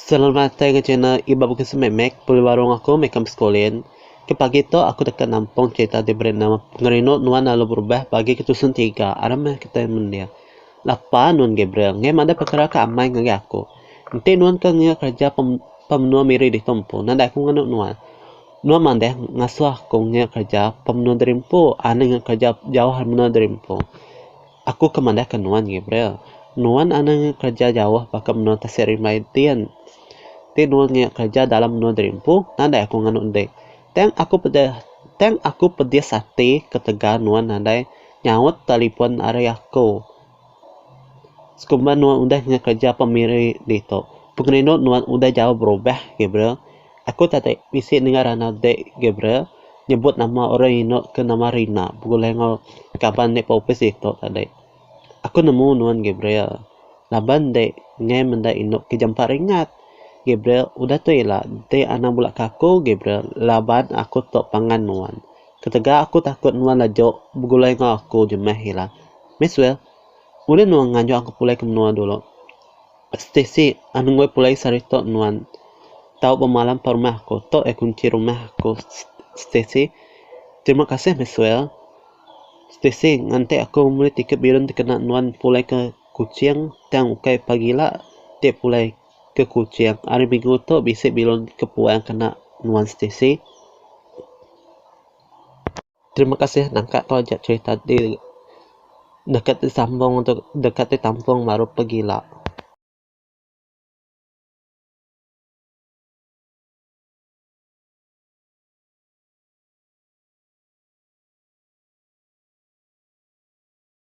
Selalu matai ga channel Iban Bukai Semak Mek pulih baru enggau aku meh kam sekulin. Ke pagi tu aku deka nampung cerita ti beri nama Pengerindu Nuan Lalu Berubah bagi ke tusun tiga. Aram meh kitai mendir. Lapa nuan Gabriel ngeh madah pekara ke amai ngagai aku. Enti nuan ke ngiga kereja pem pemenua miri ditu empu nadai aku ngenu nuan. Nuan madah ngasuh aku ngiga kereja pemenua diri empu, ane ngiga kereja jauh ari menua diri empu. Aku ke madahka nuan, Gabriel. Nuan anang iya kereja jauh baka menua tasik rimbai din. Ti nuan iya kereja dalam menua derimpu, nadai aku nganu enti. Tang aku peda tang aku pedis ati ketegal nuan nadai nyaut telefon ari aku. Sekumba nuan udah ngekereja pemiri ditu, pengerindu nuan udah jauh berubah, Gabriel. Aku tadi bisi dengar anak dek Gabriel nyebut nama orang inu ke nama Rina begulai enggau kaban dek ba opis ditu tadi. Aku nemu nuan Gabriel laban dek ngai menda inu ke jampa ringat. Gabriel udah tu ila dek anang bula kaku Gabriel laban aku tu pangan nuan. Ketegal aku takut nuan laju begulai enggau aku jemah ila. Maxwell, ulih nuan nganjung aku pulai ke menua dulu? Stacey, Anungoi pulai sehari tu nuan. Tau bemalam ba rumah aku. Tu ya kunci rumah aku. Stacey, Terima kasih Maxwell. Stacey, Nganti aku membeli tiket bilun dikena nuan pulai ke Kuching tang ukai pagi ila ti pulai ke Kuching. Hari minggu tu bisi bilun ke puang kena nuan Stacey. Terima kasih nangka ko aja cerita ti deka ti sambung tu deka ti tampung baru pegila.